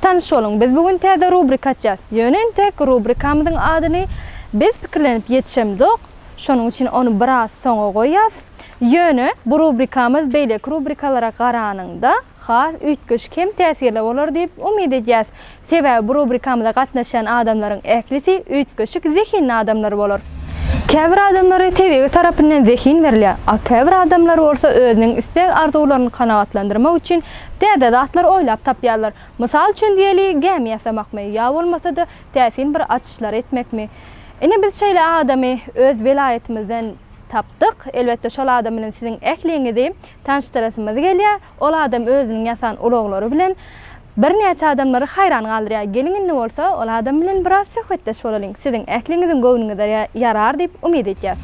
Tanyş boluň, biz bu gün täze rubrika açýas. Ýöne entek rubrikamyzyň adyny biz pikirlenip ýetişemzok, şonuň üçin ony biraz soňa goýýas. Ýöne bu rubrikamyz beýleki rubrikalara garanyňda has üýtgeşik hem täsirli bolar diýip umyt edýäs. Sebäbi bu rubrikamyza gatnaşýan adamlaryň ählisi üýtgeşik zehinli adamlar bolar. Käbir adamlara tebigy tarapyndan zehin berilýär, a käbir adamlar bolsa özüniň isleg-arzuwlaryny kanagatlandyrmak üçin Täze zatlar oýlap tapýarlar. Mysal üçin diýeli, gämi ýasamakmy, ýa bolmasa-da, täsin bir açyşlary etmekmi? Ine, biz şeýle adamy öz welaýatymyzdan tapdyk. Elbetde, şol adam bilen siziň ähliňizi tanyşdyrasymyz gelýär. Ol adam özüniň ýasan ulaglary bilen birnäçe adamlary haýran galdyrýar. Geliň indi bolsa, ol adam bilen biraz söhbetdeş bolalyň. Siziň ähliňiziň göwnüňize ýarar diýip umyt edýäs.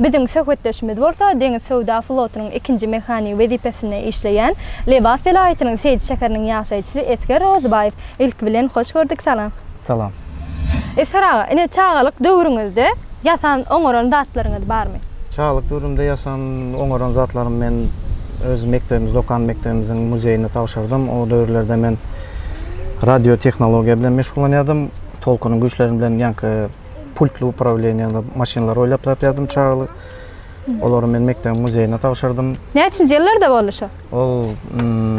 Biziň söhbetdeşimiz bolsa Deňiz söwda flotunyň ikinji mehanigi wezipesinde işleýän Lebap welaýatynyň Seýdi şäheriniň ýaşaýjysy Esger Rozybaýew. Ilki bilen hoş gördük, salam! Salam! Esger aga, ine çagalyk döwrüňizde ýasan, oňaran zatlaryňyz barmy? Çagalyk döwrümde ýasan, oňaran zatlarym men öz mekdebimiz, dokan mekdebimiziň muzeýine tabşyrdym. O döwürlerde men radiotehnologiýa bilen meşgullanýardym. Tolkunyň güýçleri bilen ýaňky pultly uprawleniýaly maşynlar oýlap tapýardym çagaly. Olary men mekdebiň muzeýine tabşyrdym. Näçinji ýyllarda boldy şo? Ol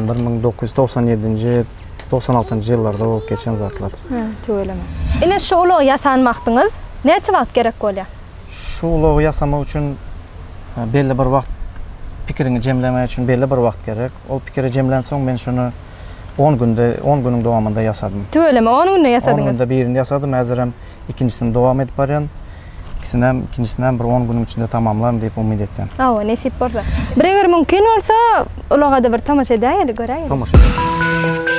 1997-nji, 96-njy ýyllarda bolup geçen zatlar. Hä, tüweleme. Ine şu ulagy ýasan wagtyňyz näçe wagt gerek bolýar? Şu ulagy ýasamak üçin belli bir wagt pikiriňi jemlemek üçin belli bir wagt gerek. Ol pikiri jemlänsoň men şuny On günde, on günüň dowamynda ýasadym. Tüweleme, on günde ýasadyňyz? On günde birini ýasadym, häzirem ikinjisini dowam edip barýan. Ikisinem, ikinjisinem bir on günüň içinde tamamlaryn diýip umyt etýän. Hawa, nesip bolsa. Bir eger mümkin bolsa, ulaga-da bir tomaşa edäýeli, göräýeli. Tomaşa edäýeli.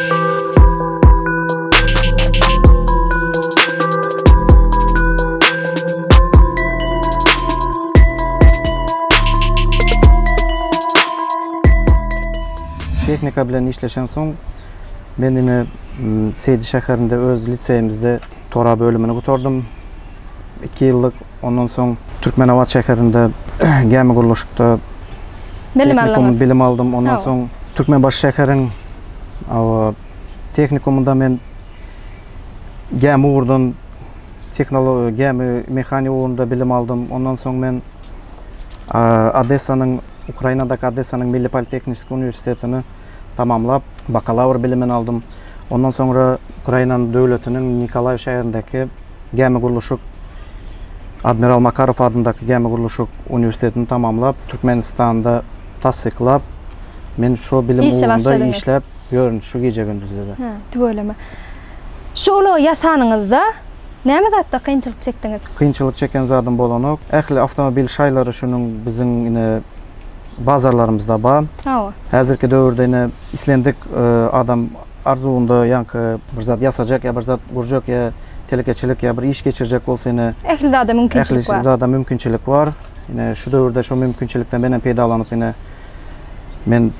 Tehnika bilen işleşen soň men ine Seýdi şäherinde öz liseýimizde tora bölümini gutardym. Iki ýyllyk ondan soň Türkmenabat şäherinde gämi gurluşykda tehnikumy bilim aldym. Ondan soň Türkmenbaşy şäheriň tehnikumynda men gämi ugurdan gämi mehanigi ugrunda bilim aldym. Ondan soň men Odessanyň Ukrainadaky Odessanyň Milli politehniki uniwersitetini tamamlap, bakalawr bilimini aldym. Ondan soňra Ukrainanyň döwletiniň Nikolaýew şäherindäki Gämigurluşyk Admiral Makarow adyndaky Gämigurluşyk uniwersitetini tamamlap, Türkmenistanda tassyklap, men şo bilim ugrunda işläp ýörün şu gije-gündizde-de. Hä, tüweleme. Şu ulagy ýasanyňyzda, Näme zatda kynçylyk çekdiňiz? Kynçylyk çeken zadym bolanok. Ähli awtomobil şaýlary şunuň biziň ine bazarlarymyzda bar. Hawa. Häzirki döwürde ine islendik adam arzuwynda ýaňky bir zat ýasajak ýa bir zat gurjak ýa telekeçilik ýa bir iş geçirjek bolsa ine Ähli zada mümkinçilik bar. Ähli zada mümkinçilik bar. Ine şu döwürde şu mümkinçilikden menem peýdalanyp ine men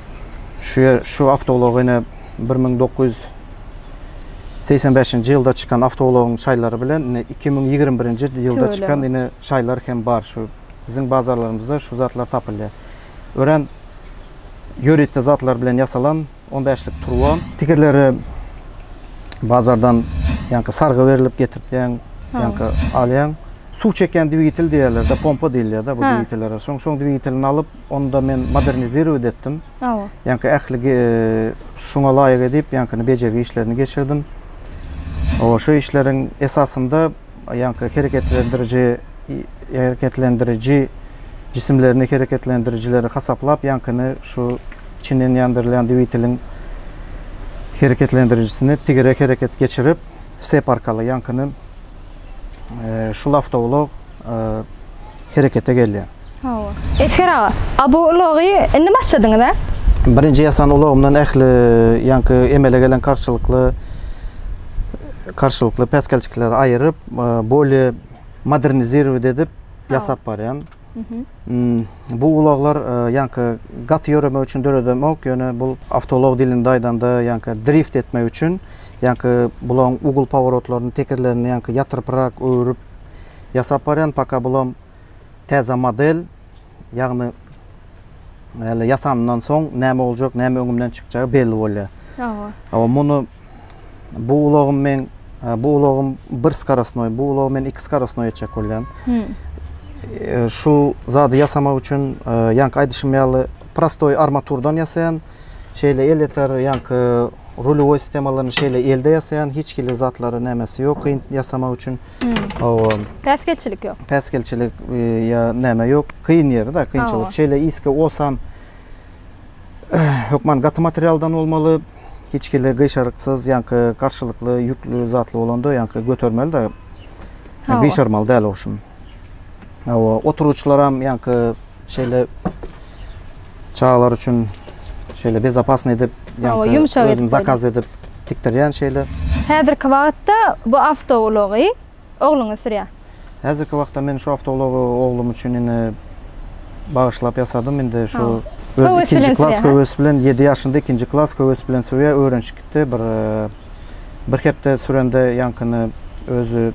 şu ýer şu awtoulagy ine bir müň dokuz ýüz segsen bäşinji ýylda çykan awtoulagyň şaýlary bilen indi iki müň ýigrimi birinji ýylda çykan indi şaýlar hem bar şu biziň bazarlarymyzda şu zatlar tapylýar örän ýörite zatlar bilen ýasalan on bäşlik turba tigirleri bazardan ýaňky sarga berilip getirtýäň ýaňky alýaň suw çekýän dwigitel diýýärler pompa diýilýär da bu dwigitellere şoň şoň dwigitelini alyp Onda men modernizirowat etdim. Hawa. Ýaňky ähli şuňa laýyk edip, ýaňkyny bejergi işlerini geçirdim. Hawa, şu işleriň esasynda ýaňky hereketlendiriji hereketlendiriji jisimlerini hereketlendirijileri hasaplap, ýaňkyny şu içinden ýandyrylýan dwiteliň hereketlendirijisini tigere hereket geçirip, sep arkaly ýaňkyny e, şul awtoulag e, herekete gelýär. Hawa. Esger aga, a bu ulagy indi başladyňyz, hä? Birinji ýasan ulagymdan ähli ýaňky emele gelen karşylykly karşylykly päsgelçikleri aýyryp, bolýe modernizirowat edip ýasap barýan. Bu ulaglar ýaňky gaty ýöremek üçin döredemok, ýöne bu awtoulag dilinde aýdanda ýaňky drift etmek üçin, ýaňky bulaň ugl paworotlaryny, tekerlerini ýaňky ýatyrprak öwrüp ýasap barýan, paka bulam täze model, ýagny Ýaly ýasandan soň näme boljak, näme öňümden çykjagy belli bolýar. Hawa. Hawa, muny bu ulagym men bu ulagym bir skarasnoý, bu ulagy men iki skarasnoý etjek bolýan. Hmm. E, şu zady ýasamak üçin e, ýanky aýdyşym ýaly prostoý armaturdan ýasaýan, şeýle el ýeter ýanky rulewoý sistemalaryny şeýle elde ýasaýan, hiç hili zatlary nämesi ýok kyn ýasamak üçin. Hawa. Päsgelçilik ýok. Päsgelçilik ýa näme ýok. Kyn ýeri da kynçylyk. Şeýle iske osam hökman gaty materialdan bolmaly. Hiç hili gyşaryksyz ýaňky garşylykly ýükli zatly bolanda ýaňky götermeli da. Gyşarmaly däl ogşum. Hawa, oturgyçlaram ýaňky şeýle çagalar üçin şeýle bezopasny edip, ýa-da ýumşak edip, zakaz edip tikdirýän şeýle. Häzirki wagtda bu awtoulagy ogluňyz sürýär? Häzirki wagtda men şu awtoulagy oglum üçin indi bagyşlap ýasadym. Indi şu öz ikinji klas höwes bilen, ýedi ýaşynda ikinji klas höwes bilen sürýär, öwrenişip gitdi. Bir Bir hepde sürende ýaňkyny özi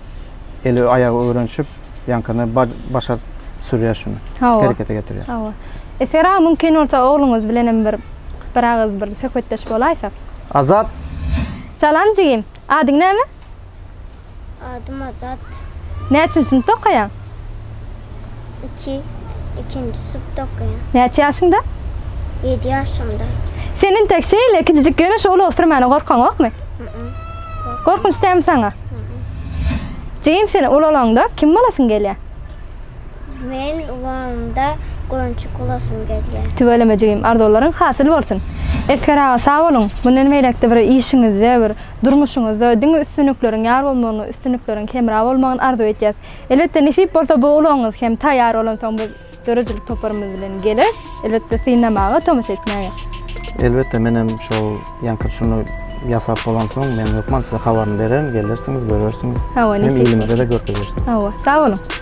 eli aýagy öwrenşip ýaňkyny başar sürýär şuny. Herekete getirýär. Hawa. Esger aga mümkin bolsa ogluňyz bilenem bir bir agyz bir söhbetdeş bolaýsak. Azat. Salam jigim. Adyň näme? Adym Azat. Näçinji synpda okaýaň? Iki, ikinji synpda okaýan. Näçe ýaşyňda? Ýedi ýaşymda. Sen intek şeýle kiçijik ýöne şu ulag sürmäne gorkaňokmy? Ýok. Gorkunç dälmi saňa? Jigim sen ulalanda kim bolasyň gelýär? Men ulalanda goýunçyk bolasym gelýär. Tüweleme jigim arzuwlaryň hasyl bolsun. Esger aga sag boluň, mundan beýläkde bir işiňizde bir Durmuşyňyzda diňe üstünlikleriň ýar bolmagyny, üstünlikleriň hemra bolmagyny arzuw edýäs. Elbetde nesip bolsa bu ulagyňyz hem taýýar bolansoň biz döredijilik toparymyz bilen geleris. Elbetde synlamaga, tomaşa etmäge. Elbetde men hem şol ýaňky şuny ýasap bolansoň men hökman size habaryny bererin, gelersiňiz, görersiňiz. Hawa, nesip bolsa. Hem ilimize-de görkezersiňiz. Hawa, sag boluň.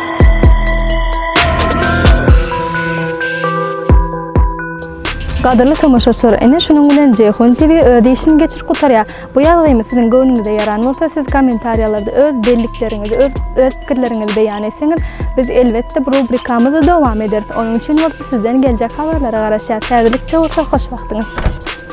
Gadyrly tomaşaçylar, ene şunuň bilen Ceyhun TV öz işini geçirip gutarýar. Bu ýazgymy siziň göwnüňize ýaran bolsa, siz kommentariýalarda öz bellikleriňizi, öz öz pikirleriňizi beýan etseňiz, biz elbetde bu rubrikamyzy dowam ederis. Onuň üçin bolsa sizden geljek habarlara garaşýas. Häzirlikçe bolsa hoş wagtyňyz.